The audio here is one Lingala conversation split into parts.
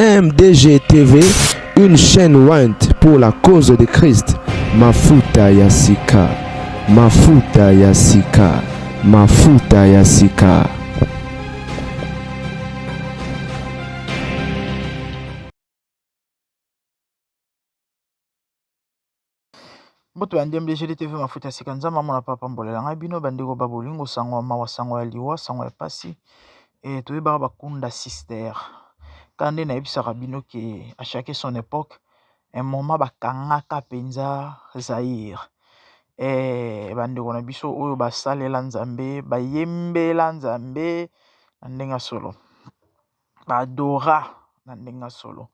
MDG TV, une chaîne Went pour la cause de Christ. Mafuta Yasika, Mafuta Yasika, Mafuta Yasika. Mbote ba ndembo ejoli TV mafuta ya sika nzambe amona papa mbolela ngai bino bandeko ba bolingo sango ya mawa sango ya liwa sango ya pasi e eh, toyebaka bakunda sister kaka nde nayebisaka bino ke a chaque son epoque un moment bakangaka mpenza Zaire e eh, bandeko na biso oyo basalela nzambe bayembela nzambe na ndenge ya solo ba adora na ndenge ya solo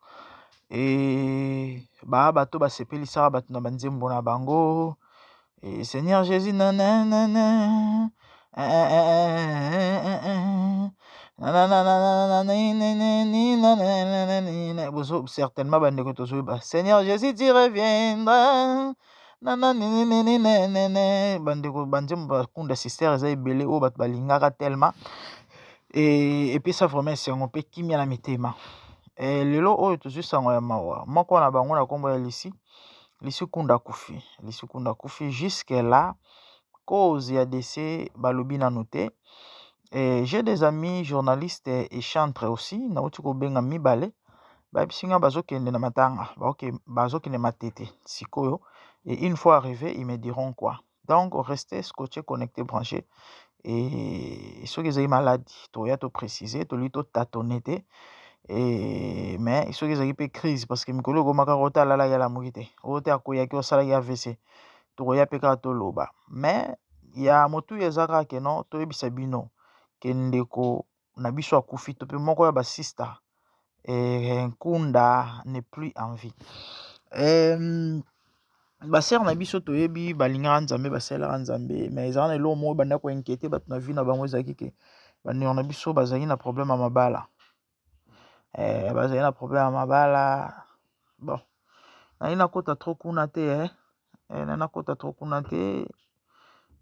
ba bato basepelisaka bato na banzembo na bango seigneur jesus nananana nananana bozo certainement bandeko tozoyeba seigneur jesus tu reviendras. na na nininininene bandeko banzembo bakunda sister eza ebele oyo bato balingaka telema epesa vraiment esengo mpe kimya na mitema e, lelo oyo tozwi sango ya mawa moko na bango na nkombo ya lisi lisi kunda kufi lisi kunda kufi jusque la cause ya dese balobi nanu te Et j'ai des amis journalistes et chantres aussi, nauti kobenga mibale, bayebisi nga bazokende na matanga, baoke- bazokende matete sikoyo. Et une fois arrivé, ils me diront quoi. Donc, restez scotchés, connectés, branchés. Et soki ezali malade, toya to préciser, toli to tâtonner te. Et mais soki ezali pe crise, parce que mikolo ekoma kaka oyo te alala ye alamuki te, oyo te akweyaki, oyo asalaki AVC, tokoya mpe kaka toloba mais ya motuya eza kaka ke non toyebisa bino ke ndeko na biso akufi to mpe moko ya basista eh, nkunda ne plus en vie eh, basere na biso toyebi balingaka nzambe basalelaka nzambe mais ezalaka na eloko moko ebanda koinquiete bato na vie na bango ezalaki ke bandeko na biso bazalaki na problème ya mabala eh, bazali na problème ya mabala bon naye nakota trop kuna te eh, eh naye nakota trop kuna te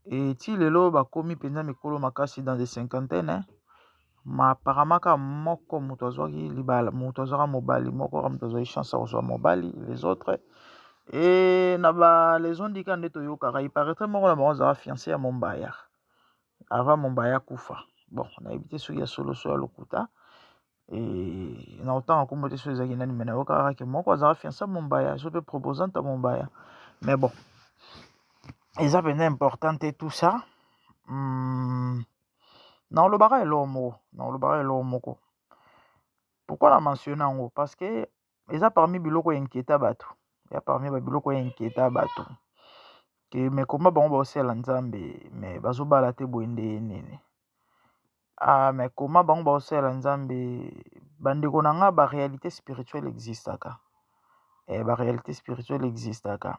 et ti lelo bakomi mpenza mikolo makasi dans des cinquantaine eh. ma apparemment kaka moko moto azwaki libala moto azwaka mobali moko kaka moto azwaki chance ya kozwa mobali les autres e na ba les ondika nde toyokaka iparaîtrait moko na bango azalaka fiancé ya mombaya avant mombaya akufa bon nayebi te soki ya solo so ya lokuta eh, na otanga nkombo te soki ezalaki nani me nayokaka ke moko azalaka fiansa mombaya so mpe proposante ya mombaya mais bon eza mpenza important te tout ça hmm, naolobaka eloko moko naolobaka eloko moko pourquoi na mentionne yango parce que eza parmi biloko ya inquieta bato ya parmi ba biloko ya inquieta bato ke me koma bango baosala nzambe me bazobala te boye nde nini me koma bango baosala nzambe bandeko na nga ba realite spirituel existaka ba realite spirituel existaka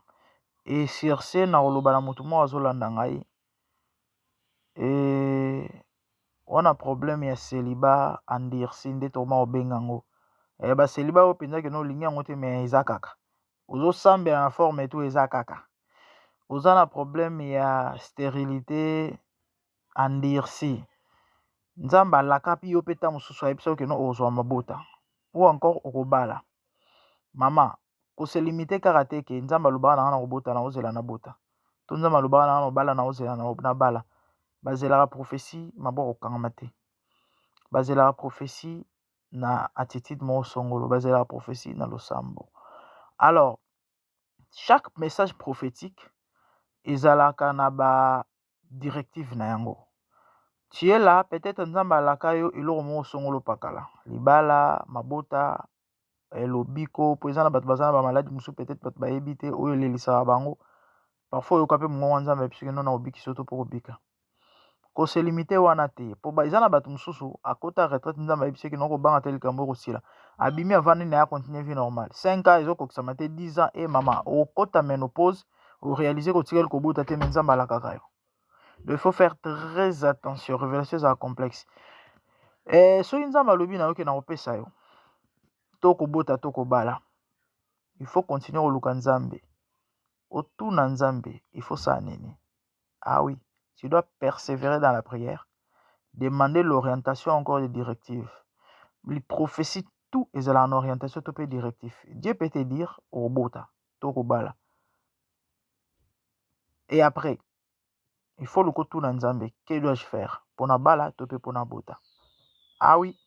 e surse na koloba na motu moko azolanda ngai Eeh wana problème ya celibat endurci nde tokoma kobenga yango, ba celibat oyo mpenza ke na olingi yango te mais eza kaka, ozosambela na forme et tout eza kaka, oza na problème ya sterilite endurci, Nzambe alakapi yo mpe ntango mosusu ayebisa yo ke non okozwa mabota ou encore okobala, mama ko se limiter kaka te que Nzambe alobaka na nga na kobota na ozela na bota to Nzambe alobaka na nga na obala na ozela na bala bazelaka prophetie maboko kokangama te bazelaka prophetie na attitude moko songolo bazelaka prophetie na losambo alors chaque message prophétique ezalaka na ba directive na yango tu es là peut-etre nzambe alaka yo eloko moko songolo pakala libala mabota eh, lobiko mpo eza na bato baza na bamaladi mosusu peut-être bato bayebi te oyo elelisaka bango parfois oyoka mpe mongongo ya nzambe ayebisiki nona obikisi yo to mpo kobika koselimite wana te mpo eza na bato mosusu akota retraite nzambe ayebisaki noko obanga te likambo ekosila abimi avandi na ye akontinue vie normale 5 ans ezokokisama te 10 ans e mama okota menopause o realiser ko tikali kobota te mais nzambe alakaka yo donc il faut faire très attention révélation ezala complexe eh, soki nzambe alobi na yo ke nakopesa yo to kobota to kobala il faut continuer koluka nzambe otuna nzambe il faut ça nini ah oui tu dois persévérer dans la prière demander l'orientation encore des directives les prophéties tout ezala en orientation to mpe directif dieu peut te dire obota to kobala et après il faut loko tuna nzambe que dois-je faire mpo na bala to mpe mpo na bota awi ah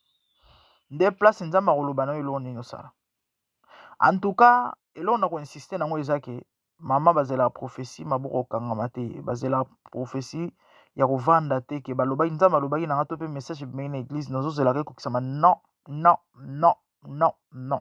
nde place nzambe akoloba na yo eloko nini osala en tout cas eloko na koinsiste nango eza ke mama bazela prophesie maboko okangama te bazela prophesie ya kovanda te ke balobaki nzambe alobaki na nga to mpe message ebimaki na eglise nazozelaka ekokisama non non non non non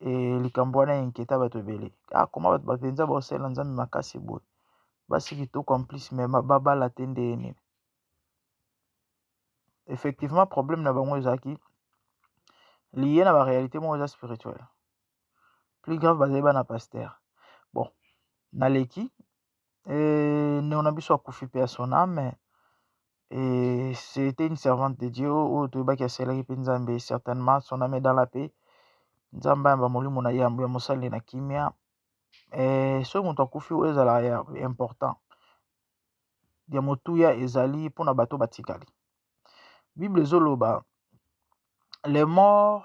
e likambo wana ya inquieta bato ebele ah koma bato bapenza baosalela nzambe makasi boye basi kitoko en plus me babala te nde ye nini effectivement problème na bango ezalaki liye na baréalité moko eza spirituel plus grave bazali bana pasteur bon naleki euh, ndeko na biso akufi pe ya son ame et c'était une servante de Dieu oyo toyebaki asalaki mpe Nzambe certainement son ame dans la paix Nzambe ayamba molimo na yambo ya mosali na kimia eh, soki moto akufi oyo ezala ya important ya motuya ezali mpo na bato batikali bible ezoloba les morts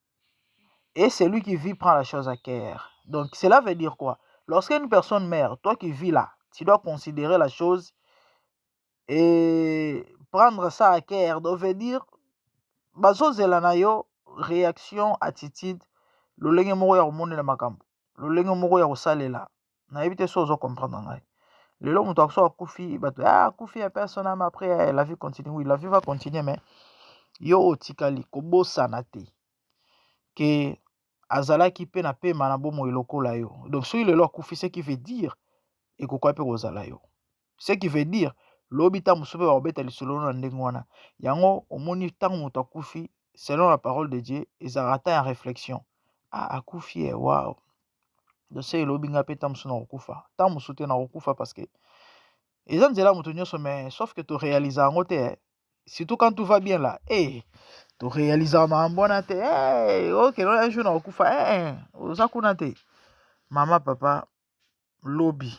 Et celui qui vit prend la chose à cœur. Donc cela veut dire quoi Lorsque une personne meurt, toi qui vis là, tu dois considérer la chose et prendre ça à cœur. Donc veut dire, bazozela na yo réaction, attitude, lolenge moko ya komonela makambo, lolenge moko ya kosalela nayebi te so ozo comprendre ngai lelo moto akoso akufi bato ah, akufi ya personne ama après eh, la vie continue oui la vie va continuer mais yo otikali kobosana te ke azalaki mpe na pema na bomoi lokola yo donc soki lelo akufi ce qui veut dire ekokoya mpe kozala yo ce qui veut dire lobi ntango mosusu mpe bakobeta lisolo na ndenge wana yango omoni ntango moto akufi selon la parole de dieu ezalaka ata ya réflexion ah, akufi ye eh, wow dose elobi ngai mpe ntango mosusu nakokufa ntango mosusu te nakokufa parce que eza nzela moto nyonso mais sauf que torealisa yango te eh. surtout quand tout va bien là hey, eh, torealisaka makambo wana te hey, eh, okelo un jour nakokufa hey, oza kuna te mama papa lobi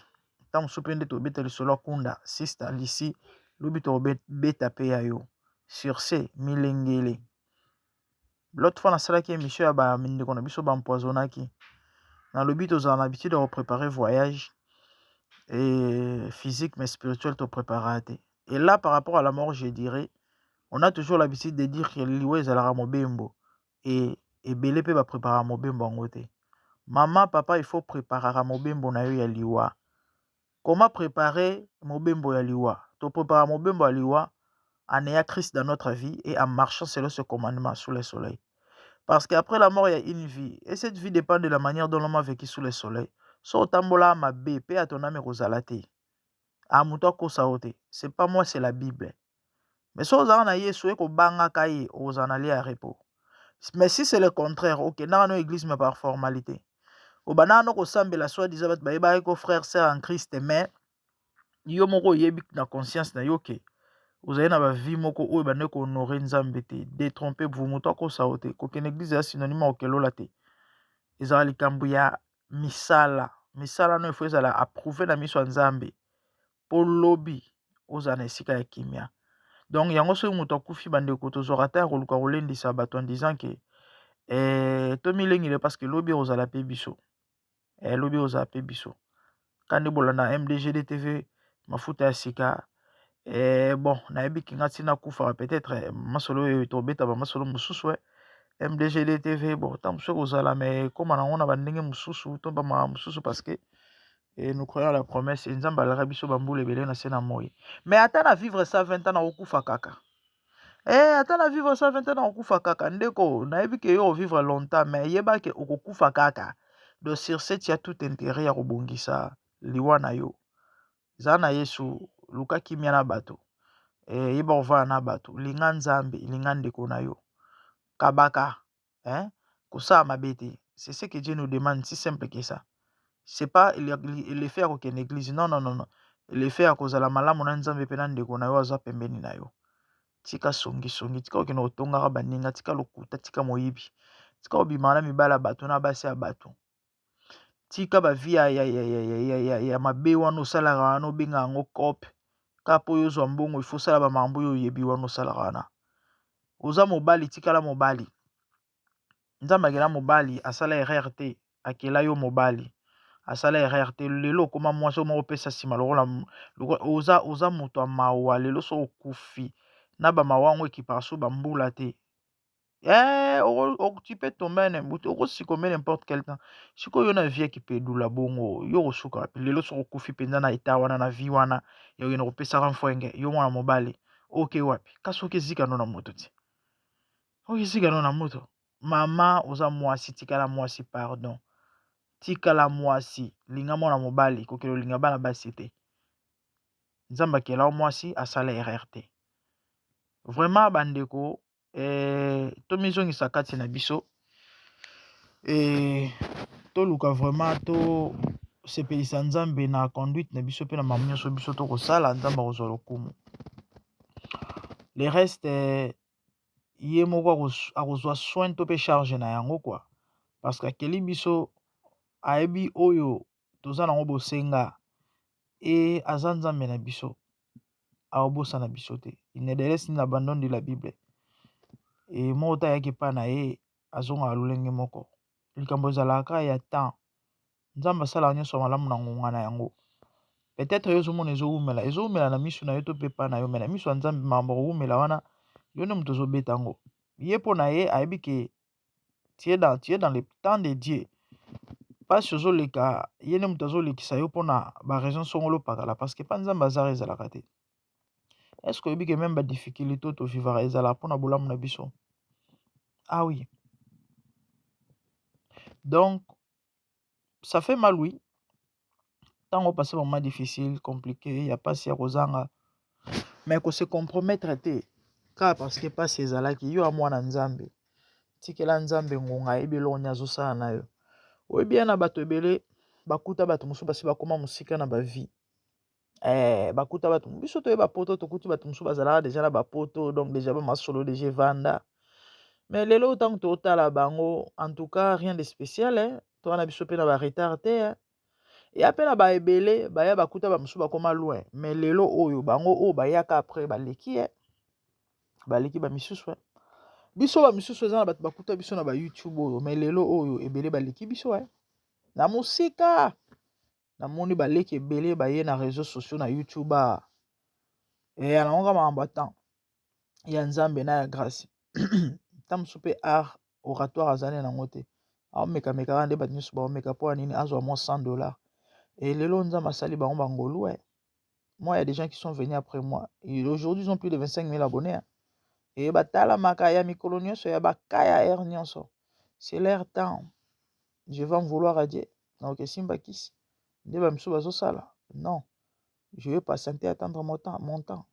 ntango mosusu mpe nde tobeta lisolo ya kunda sista lisi lobi tokobeta mpe ya yo sur ce milengele lote fois nasalaki émission ya bandeko na biso bampoisonaki nalobi tozala na habitude ya koprépare voyage et physique mais spirituel toprépara te et là par rapport à la mort je dirais on a toujours l'habitude de dire que liwa ezalaka mobembo et ebele pe ba preparaka mobembo yango te maman papa il faut preparaka mobembo na yo ya liwa comment preparer mobembo ya liwa to preparaka mobembo ya liwa en ayant Christ dans notre vie et en marchant selon ce commandement sous le soleil parce que après la mort il y a une vie et cette vie dépend de la manière dont l'homme a vécu sous le soleil so otambola mabe pe ya ton ame kozala te a moto akosa yo te c'est pas moi c'est la bible mais soki ozalaka na yesu oye kobangaka ye okozala na lia ya repos mais si c'est le contraire okendaka no eglise mais par formalité obandaka no kosambela soit disant bato bayebaki ko frère sœur en christ mais yo moko oyebi na conscience na yo ke ozali na bavie moko oyo bandeki kohonore nzambe te detrompe vous moto akosa yo te kokende eglise ya synonyme ya kokelola te ezala likambo ya misala misala no efo ezala approuve na miso ya nzambe po lobi ozala na esika ya kimia donc yango soki moto akufi bandeko tozwaka ata ya koluka kolendisa bato en disant ke eh, tomilengele parce que lobi ekozala pe biso eh, lobi ekozala pe biso kandi bolanda mdgd tv mafuta ya sika eh, bon nayebi kinga ntina kufaka peut-être eh, masolo oyo tobeta bamasolo mosusu eh. mdgd tv bon ntango mosusu ekozala me ekóma nango na bandenge mosusu to bamaka mosusu parce que Et nous croyons à la promesse. Et Nzamba alaka biso bambula ebele na se na moi. Mais ata na vivre 120 ans na okufa kaka. Eh, ata na vivre 120 ans na okufa kaka. Ndeko, nayebi ke yo vivre longtemps, mais yeba ke okokufa kaka. Donc sur ce, tu as tout intérêt ya kobongisa liwa na yo. Zala na Yesu, luka kimia na bato. Eh, yeba kovanda na bato. Linga Nzambe, linga ndeko na yo. Kabaka. hein kosala mabe te c'est ce que Dieu nous demande si simple que ça c'est pas le fait ya kokende eglise non non non le fait ya kozala malamu na Nzambe mpe na ndeko na yo aza pembeni na yo tika songi songi tika okende kotongaka baninga tika lokuta tika moyibi tika obimaka na mibala bato na basi ya bato tika ba vie ya mabe wana osalaka wana obenga yango cop kaka po y'ozwa mbongo il faut osala ba makambo oyo oyebi wana osalaka wana oza mobali tikala mobali nzambe akela mobali asala erreur te akela yo mobali asala erreur te lelo okoma mwasi oyo moko opesa sima lokola oza moto ya mawa lelo soki okufi na ba mawa yango ekipaka soki ba mbula te. Eh, tu peux tomber un embuti, okosika omele n'importe quel temps. Sikoyo yo na vie ya kipedula bongo, yo okosuka wapi? Lelo soki okufi mpenza na etat wana na vie wana, ya oyena kopesaka mfwenge, yo mwana mobali, oke wapi? Kasi oke zika no na moto ti. Oke zika no na moto. Mama, oza mwasi, tikala mwasi, pardon. Tikala mwasi, linga mwana mobali, kokelo linga bana basi te. Nzambe akela yo mwasi, asala erreur te. Vraiment bandeko, tomizongisa kati na biso toluka vraiment tosepelisa nzambe na conduite na biso mpe na mamu nyonso biso tokosala nzambe akozwa lokumu le reste ye moko akozwa soin to mpe charge na yango kua parce que akeli biso ayebi oyo toza nango bosenga et aza nzambe na biso aobosana biso te il ne laisse ni l'abandon de la bible et moko te ayaki epai na ye azongaka lolenge moko likambo ezalaka ya temps nzambe asalaka nyonso malamu na ngonga na yango peut-être yo ozomona ezowumela ezowumela na miso na yo to mpe epai na yo me na miso ya nzambe makambo kowumela wana yo nde moto ozobeta yango ye mpo na ye ayebi ke tu es dans, tu es dans le temps de Dieu mpasi ozoleka ye nde moto azolekisa yo mpona ba raison songolo pakala parce que mpa nzambe azara ezalaka te est ce que oyebi ke meme ba difficulté tovivaka ezalaka mpona bolamu na biso ah oui donc ça fait mal oui ntango passe vraiment difficile compliqué ya mpasi ya kozanga mais ko se compromettre te kaka parce que mpasi ezalaki yo ya mwana nzambe tikela nzambe ngonga ayebi eloko nini azosala na yo oyebi ya na bato ebele bakuta bato mosusu basi bakoma mosika na bavie eh, bakuta bato biso toye bapoto tokuti bato mosusu bazalaka deja na bapoto donc deja bamasolo deja evanda mais lelo ntango totala bango en tout cas rien de spécial eh, toa na biso mpe na baretard te eh. ya mpe na baebele baya bakuta bamosusu bakoma loin mais lelo oyo bango oyo bayaka après baleki eh. baleki bamisusu eh. biso bamisusu eza na bato bakuta biso na bayoutube oyo mais lelo oyo ebele baleki biso eh. na mosika Namoni ba leki ebele baye na reseau sociaux na youtube awa eeh na yango kaka makambo ya temps ya Nzambe na ya grace temps mosusu mpe art oratoire aza naye na yango te aomeka meka kaka nde bato nyonso baomeka mpo ya nini azwa mwa 100 dollars et lelo Nzambe asali bango ba ngolu eh moi ya des gens qui sont venus après moi et aujourd'hui ils ont plus de 25 000 abonnés hein. et batalamaka ya mikolo nyonso ya bakaya air nyonso c'est leur temps je vais en vouloir à Dieu na okesimba kisi nde ba misu bazosala non je vais patienter attendre mon temps mon temps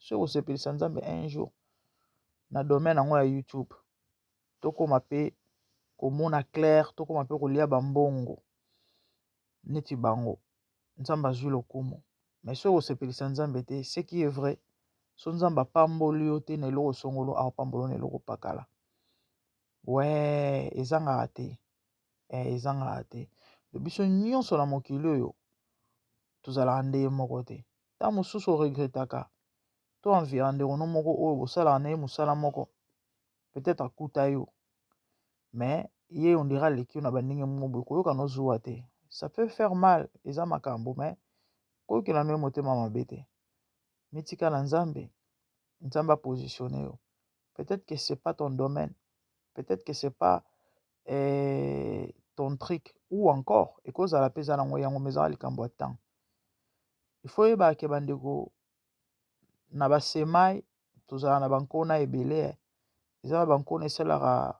soki kosepelisa nzambe un jour na domaine yango ya youtube tokóma mpe komona claire tokóma mpe kolia bambongo neti bango nzambe azwi lokumu mais soki kosepelisa nzambe te ce qui est vrai so nzambe apamboli yo te na eloko songolo aopambolo na eloko pakala Weeh ezangaka te eh ezangaka te biso nyonso na mokili oyo tozalaka ndenge moko te ntango mosusu o regrettaka to envira ndeko no moko oyo bosalaka na ye mosala moko peut-être akuta yo mais ye on dirait aleki yo na bandenge moko boye koyokana ozuwa te ça peut faire mal eza makambo mais koyokela no ye motema mabe te mitika na nzambe nzambe a positionne yo peut-etre que c'est pas ton domaine peut-etre que c'est pas eh, ton trick ou encore ekozala mpe eza nango yango mezaka likambo ya temps il faut oyebaka ke bandeko na basemai tozala na bankona ebele eh. eza na bankona esalaka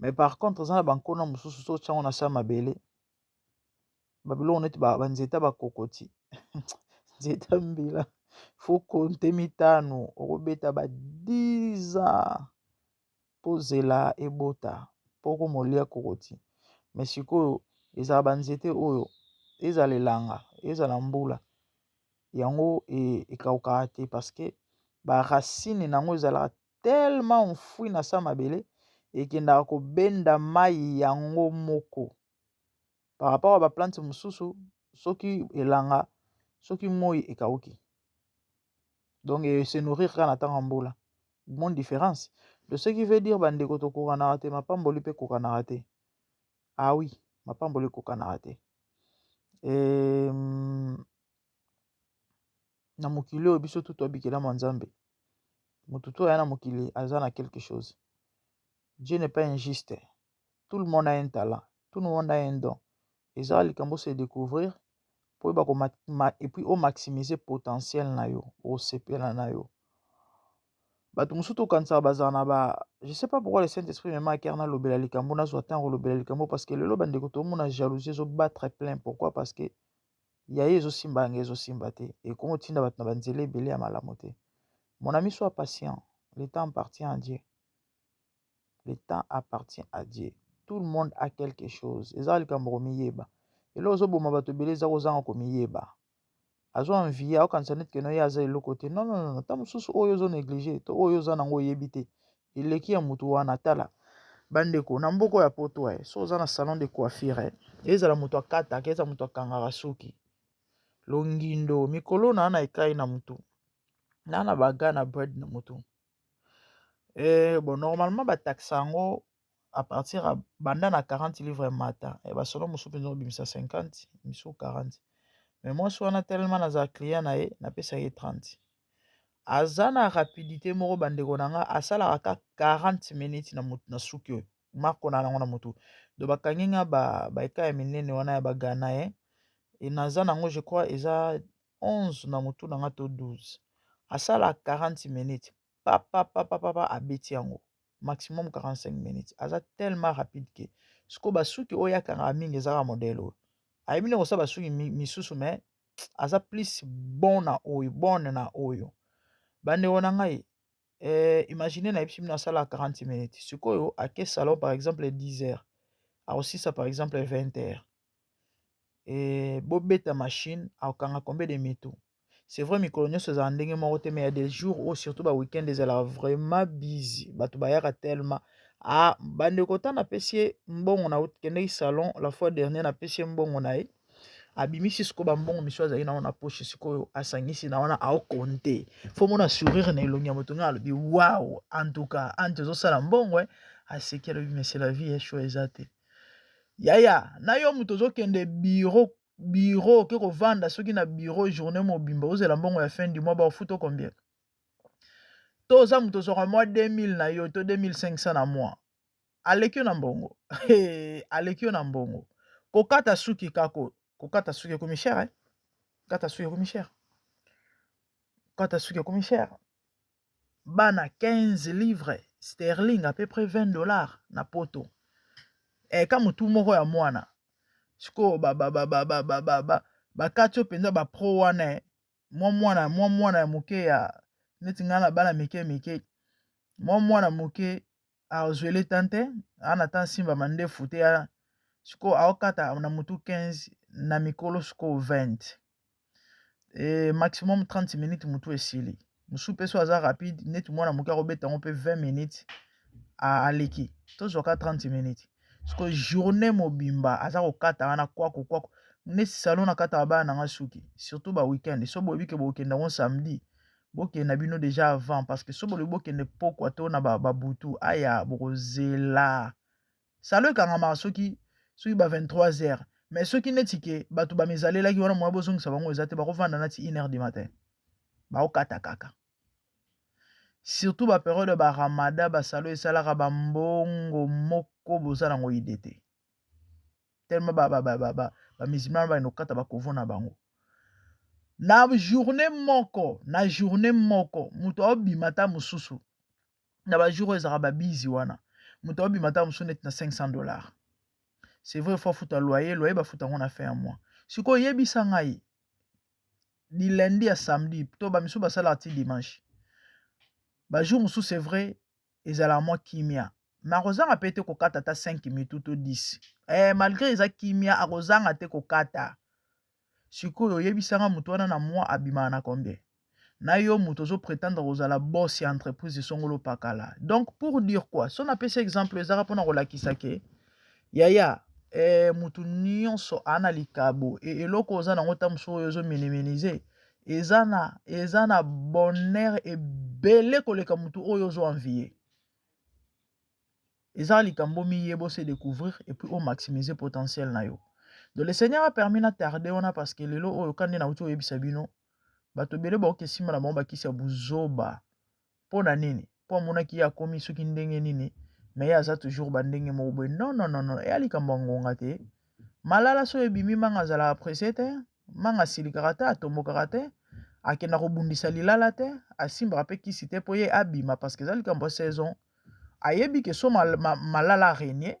mais par contre eza na bankona mosusu soki otya yango na se ya mabele babiloko neti banzeta bakokoti nzeta mbila fo konte mitano okobeta ba 10 ans mpo zela ebota mpo okomolia kokoti mais sikoyo ezala banzete oyo ezala elanga ezala mbula yango e, ekaukaka te parceke baracine na yango ezalaka tellement enfouis na se ya mabele ekendaka kobenda mayi yango moko par rapport ya ba plante mosusu soki elanga soki moi ekauki donc e se nourrir kaka na ntango ya mbula moni difference de ce qui veut dire ba ndeko tokokanaka te mapamboli mpe ekokanaka te ah oui mapamboli ekokanaka te. na mokili oyo biso tutu abikelama nzambe motu to aya na mokili aza na quelque chose dieu n'est pas injuste tout le monde a un talent tout le monde a un don eza likambo se découvrir mpo oyeba ko epuis o maximiser potentiel na yo osepela na yo bato mosusu tokanisaka bazala na ba je sais pas pourquoi le saint esprit mema akere nalobela likambo nazwa ntango kolobela likambo parce que lelo bandeko tomona jalousie ezobattre plein pourquoi parce que ya ye ezosimba yanga ezosimba te ekongo tinda bato na banzela ebele ya malamu te mon ami soit patient le temps appartient à Dieu le temps appartient à Dieu tout le monde a quelque chose eza likambo komiyeba elo ozoboma bato ebele eza kozanga komiyeba azwa envie aokanisa neti keno ye aza eloko te non non non ta mosusu oyo ozo néglige to oyo oza nango oyebi te eleki ya mutu wana tala ba ndeko na mboko ya poto eh so oza na salon de coiffure eh ezala mutu akataka ezala mutu akangaka suki longindo mikolo na na ekai na mutu na na baga na bride na mutu eh bon normalement ba taxa yango à partir ya banda na 40 livre mata eh ba salon mosusu mpenza obimisa 50 misusu 40 mais mwasi wana telema nazala client na ye napesa ye 30 aza na rapidite moko bandeko na nga asalaka ka 40 minutes na motu na suki oyo marko na yango na motu do bakangi nga ba baika ya minene wana ya bagana ye e naza nango je crois eza 11 na motu na nga to 12 asala 40 minutes papa papa papa abeti yango maximum 45 minutes aza tellement rapide ke siko basuki oyo akangaka mingi ezaka modele oyo ayebi nde kosala basuki misusu mais aza plus bon na oyo bonne na oyo bandeko na ngai eh, imagine nayebisi bino asala 40 minutes sikoyo ake salon par exemple 10 heures akosisa par exemple 20 heures eh, bobeta machine akokanga combien de mitu c'est vrai mikolo nyonso ezala ndenge moko te mais ya des jours oyo surtout ba week-end ezalaka vraiment busy bato bayaka tellement ah bandeko ta napesi ye mbongo na kendeki salon la fois dernier napesi ye mbongo na ye abimisi sikoyo bambongo misu azali na wana poche sikoyo asangisi na wana aokonte fo mona sourire na elongi ya moto ngai alobi wao antuka ante ozosala mbongo e eh. aseki alobi mese la vie esho eza te yaya na yo moto ozokende biro biro oke kovanda soki na biro journée mobimba ozela mbongo ya fin du mois baofuta combien to oza moto ozwaka mwa 2000 na yo to 2500 na mois aleki yo na mbongo eh, aleki yo na mbongo kokata suki kako kokata suki ekomi cher eh? kata suki ekomi cher kata suki ekomi cher bana 15 livres sterling à peu près 20 dollars na poto eh, ka motu moko ya mwana sikoyo bakati yo mpenza bapro wana eh? mwa mwana mwa mwana ya moke ya neti ngai na bana mike mike mwa mwana moke azwele tan te ana ta nsimba mandefu te ya sikoyo aokata na motu 15 na mikolo sikoyo 20 e maximum 30 minutes motu esili mosusu mpe so aza rapide neti mwana moke akobeta yango mpe 20 minutes aleki tozwaka 30 minutes siko journée mobimba aza kokata wana kwako kwako neti salon nakataka bana na nga suki surtout ba weekend so boyebi ke bokokende yango samedi bokende na bino deja avant parce que so bolobi bokende pokwa to na babutu aya bokozela salon ekangamaka soki soki ba 23 heures mais soki neti ke bato bamizalelaki wana moya bozongisa bango eza te bakovanda nati 1 heure du matin bakokata kaka surtout ba periode ya ba ramada basalo esalaka bambongo moko boza nango ide te tellement bamisilmana bakende kokata bakovo na bango na journée moko na journée moko moto aobima ata mosusu na bajour oyo ezalaka babizi wana moto aobima ata mosusu neti na 500 dollars c'est vrai fo afuta loyer loyer bafuta yango na fin ya mois sikoyo yebisa ngai du lundi à samedi to ba misusu basalaka ti dimanche ba jour mosusu c'est vrai ezalaka mwa kimia me akozanga mpe te kokata ata 5 mitu to 10 eh, malgré eza kimia akozanga te kokata sikoyo oyebisanga moto wana na mwa abimaka na combien na yo moto ozo prétendre kozala boss ya entreprise songolo pakala donc pour dire quoi so napesi exemple ezaka mpona kolakisa ke Yaya eh mutu nionso a na likabo e eloko oza na ngo ta mosu oyo ozo minimize eza na eza na bonheur ebele koleka mutu oyo ozo envie eza likambo miye bo se découvrir et puis o maximize potentiel na yo donc le seigneur a permis na tarde wana parce que lelo oyo kande na uti oyebisa bino bato ebele baokesimba na bango bakisi ya buzoba mpo na nini mpo amonaki ye akomi soki ndenge nini me ye aza toujours bandenge moko boye non non non non eya likambo ya ngonga te malala so ebimi manga azalaka presse te manga asilikaka te atombokaka te akenda kobundisa lilala te asimbaka mpe kisi te mpo ye abima parce que eza likambo ya saison ayebi ke so malala renie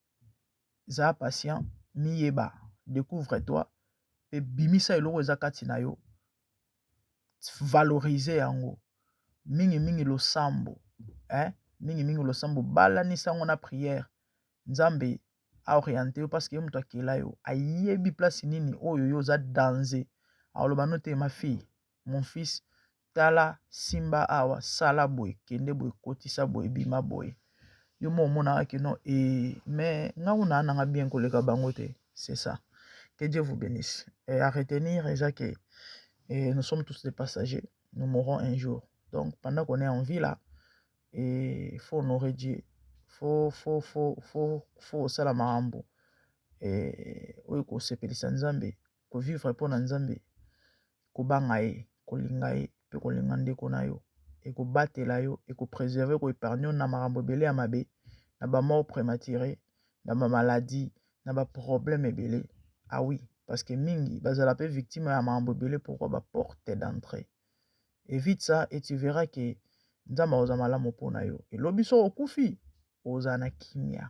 za patient miyeba decouvre toi pe bimisa eloko eza kati na yo valorise yango mingi mingi losambo eh mingi mingi losambo balanisa yango na priere Nzambe a oriente yo parce que ye moto akela yo ayebi place nini oyo yo oza danze akoloba no te ma fille mon fils tala simba awa sala boye kende boye kotisa boye bima boye yo mo omonaka kino e mais ngai kuna nanga bien koleka bango te c'est ça que Dieu vous bénisse et à retenir eza que et nous sommes tous des passagers nous mourrons un jour donc pendant qu'on est en vie là et faut honorer Dieu faut faut faut faut faut sala makambo e oyo kosepelisa Nzambe ko vivre mpo na Nzambe, kobanga ye, kolinga ye mpe kolinga ndeko na yo ekobatela yo, eko preserver, eko epargne yo na makambo ebele ya mabe, na ba mort premature, na ba maladie, na ba problème ebele. Ah oui, parce que mingi bazala mpe victime ya makambo ebele pourquoi ba porte d'entrée. Evite ça et tu verras que Nzambe akozala malamu mpo na yo. Et lobi soki okufi, ozala na kimia.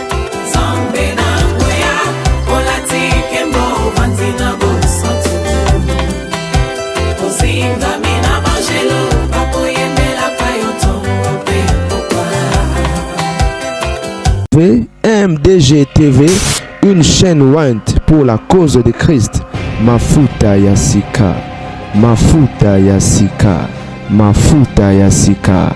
MDG TV, une chaîne went pour la cause de Christ. Mafuta Yasika, Mafuta Yasika, Mafuta Yasika.